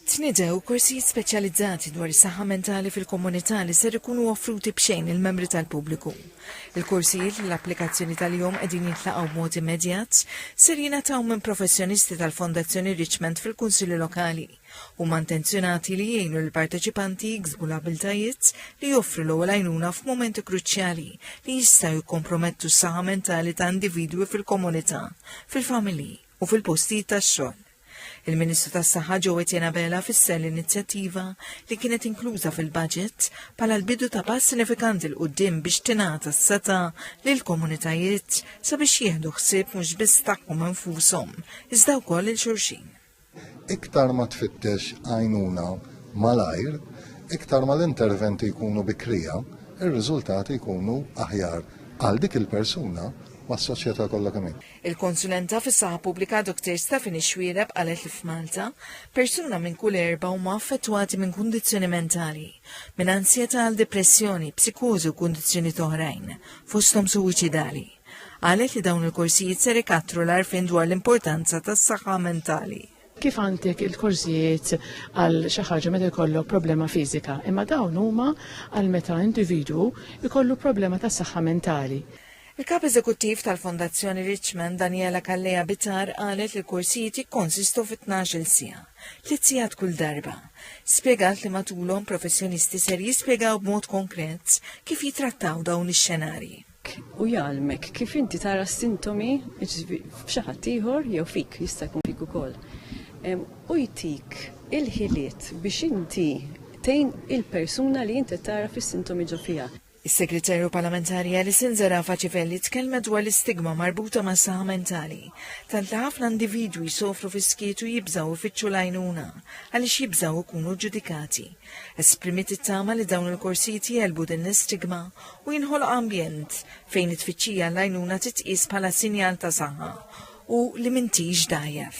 Tnidew korsijiet speċjalizzati dwar is-saħħa mentali fil-komunità li ser ikunu offruti b'xejn lill-membri tal-pubbliku. Il-korsijiet li l-applikazzjoni tal-jom qegħdin jintlaqgħu b'mod immedjat ser jingħataw minn professjonisti tal-Fondazzjoni Richmond fil-Kunsilli Lokali. Huma intenzjonati li jgħinu lill-parteċipanti jiksbu l-abiltajiet li joffru l-ewwel għajnuna f'mumenti kruċjali li jistgħu jikkompromettu s-saħħa mentali ta' individwi fil-komunità, fil-familji u fil-postijiet tax-xogħol. Il-Ministru tas-Saħħa Joe Etienne Abela fisser l-inizjattiva li kienet inkluża fil-budget bħala l-bidu ta' pass sinifikanti l qudiem biex tingħata s-seta lil komunitajiet sabiex jieħdu ħsieb mhux biss tagħhom infushom, iżda wkoll il xulxin. Iktar ma tfittex għajnuna malajr, iktar ma l-interventi jkunu bikrija, ir-riżultati jkunu aħjar għal dik il-persuna ma' soċjetà kollha kemm Il-konsulenta fis-saħħa pubblika Dr. Stephanie Xwiereb qalet li f'Malta persuna minn kull erba' huma affettwati minn kundizzjoni mentali, minn ansjetà għal depressjoni, psikożi u kundizzjonijiet oħrajn, fosthom suwiċidali. Qalet li dawn il-korsijiet ser ikattru l-għarfien dwar l-importanza tas-saħħa mentali. kif għandek il-korsijiet għal xi ħaġa meta jkollok problema fiżika, imma dawn huma għal meta individwu jkollu problema ta' saħħa mentali. Il-Kap Eżekuttiv tal-Fondazzjoni Richmond Daniela Calleja Bitar qalet li l-korsijiet jikkonsistu fi 12-il siegħa, tliet sigħat kull darba. Spjegat li matulhom professjonisti ser jispjegaw b'mod konkret kif jitrattaw dawn ix-xenarji. u jgħallmek kif inti tara s-sintomi f'xi ħadd ieħor jew fik jista' jkun fik ukoll. U jtik il-ħiliet biex inti tgħin il-persuna li inti tara fis-sintomi ġo fiha. Is-Segretarju Parlamentari Alison Zerafa Civelli tkellmet dwar l-istigma marbuta mas-saħħa mentali, tant li ħafna individwi jsofru fis-skiet u jibżgħu jfittxu l-għajnuna għaliex jibżgħu jkunu ġġudikati. Esprimiet it-tama li dawn il-korsijiet jelbu din l-istigma u jinħoloq ambjent fejn it-tfittxija l-għajnuna titqies bħala sinjal ta' saħħa u li m'intix dgħajjef.